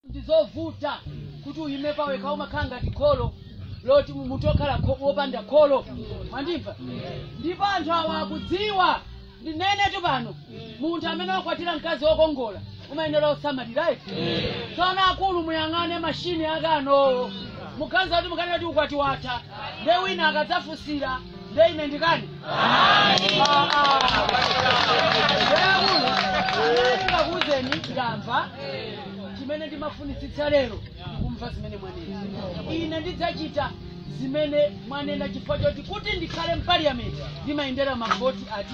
ndi zovuta kuti uyime pawekha umakhala ngati kholo loti mu- munthu okhala kho- wopanda kholo mwandimva ndipo anthu awa akudziwa ndinenetu pano munthu amene wakwatira mkazi wokongola umayenera osamalirayi tsono akulu muyang'ane mashini akanowo mukazi ati mukanena kuti ukwati watha nde wina akadzafunsira nde ine ndikani ndikakuuzeni ndamva chimene ndimafunitsitsa lero ndikumva zimene mwanena ine ndidzachita zimene mwanena chifukwa choti kuti ndikhale mpaliyamenti ndimayendera mavoti ati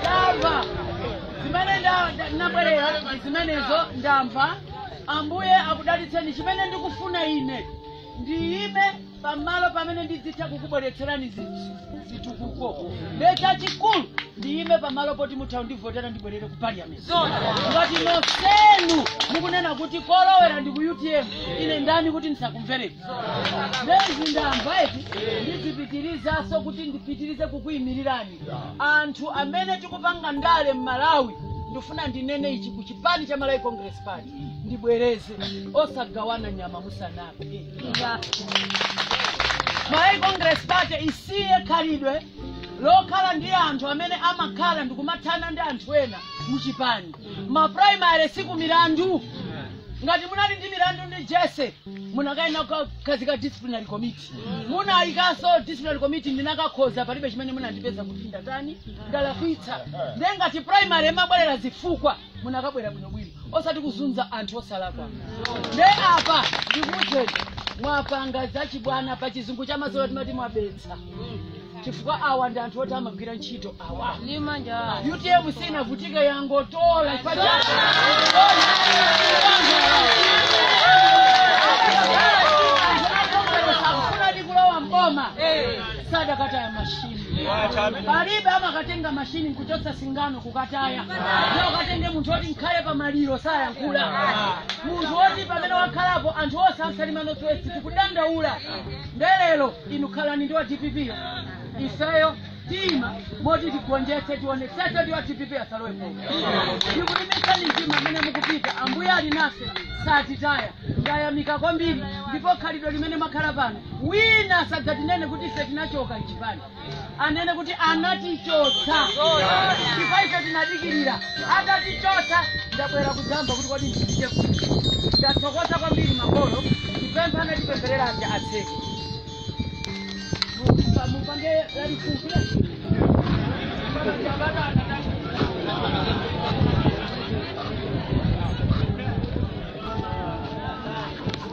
ndamva zimene nda- nda- ndabwerera ndi zimenezo ndamva ambuye akudalitseni chimene ndikufuna ine ndiyime pamalo pamene ndidzitha kukubweretserani zi- zitukuko nde chachikulu ndiyime pamalo poti mutha kundivotera ndibwerere ku parliament ngati nonsenu mukunena kuti kolowera ndi ku utm ine ndani kuti ndisakumvereni ndezi ndamva eti ndizipitirizanso kuti ndipitirize kukuimirirani anthu amene tikupanga ndale m'malawi ndifuna ndinene ichi ku chipani cha malawi congress party ndibwereze osagawana nyama musanaphe malawi congress party isiye khalidwe lokhala ndi anthu amene amakhala ndikumathana ndi anthu ena muchipani maprimary siku milandu ngati munali ndi milandu ndi jessie munakayenera kukhazika disciplinary committee munayikanso disciplinary committee ndinakakhonza palibe chimene munandipeza kuti ndatani ndalakwitsa nde ngati primary imabwerera zifukwa munakabwera bwinobwino osati kuzunza anthu osalakwa nde apa ndikuuzeni mwapanga zachibwana pa chizungu cha mazola timati mwabetsa chifukwa awa ndi anthu oti amagwira ntchito awa utm sinavutike yangotola chifukwa cha- akufuna ndi kulowa mboma sadakataya mashini palibe amakatenga mashini nkuchotsa singano kukataya ndiye ukatenge munthu woti nkhale pa maliro sayankhula munthu woti pamene wakhalapo anthu onse amsalima nothwest tikudandaula nde lero inu khalani ndi wa dpp yo ifeyo tima moti tigonjetse tionetsetse ndi wa dpp asalowepo ndikulimbitsani mtima amene mukupita ambuye ali nafe satitaya ndayamika kwambiri ndipo khalidwe limene makhala pano wina asadzatinene kuti ife tinachoka mchipani anene kuti anatichotsa chifukwa ife tinadikirira atatichotsa ndabwera kudzamva kuti kodi ndipite kuti ndathokoza kwambiri makolo ndipempha anatipempherera aja atseke mupa- mupange lalifupi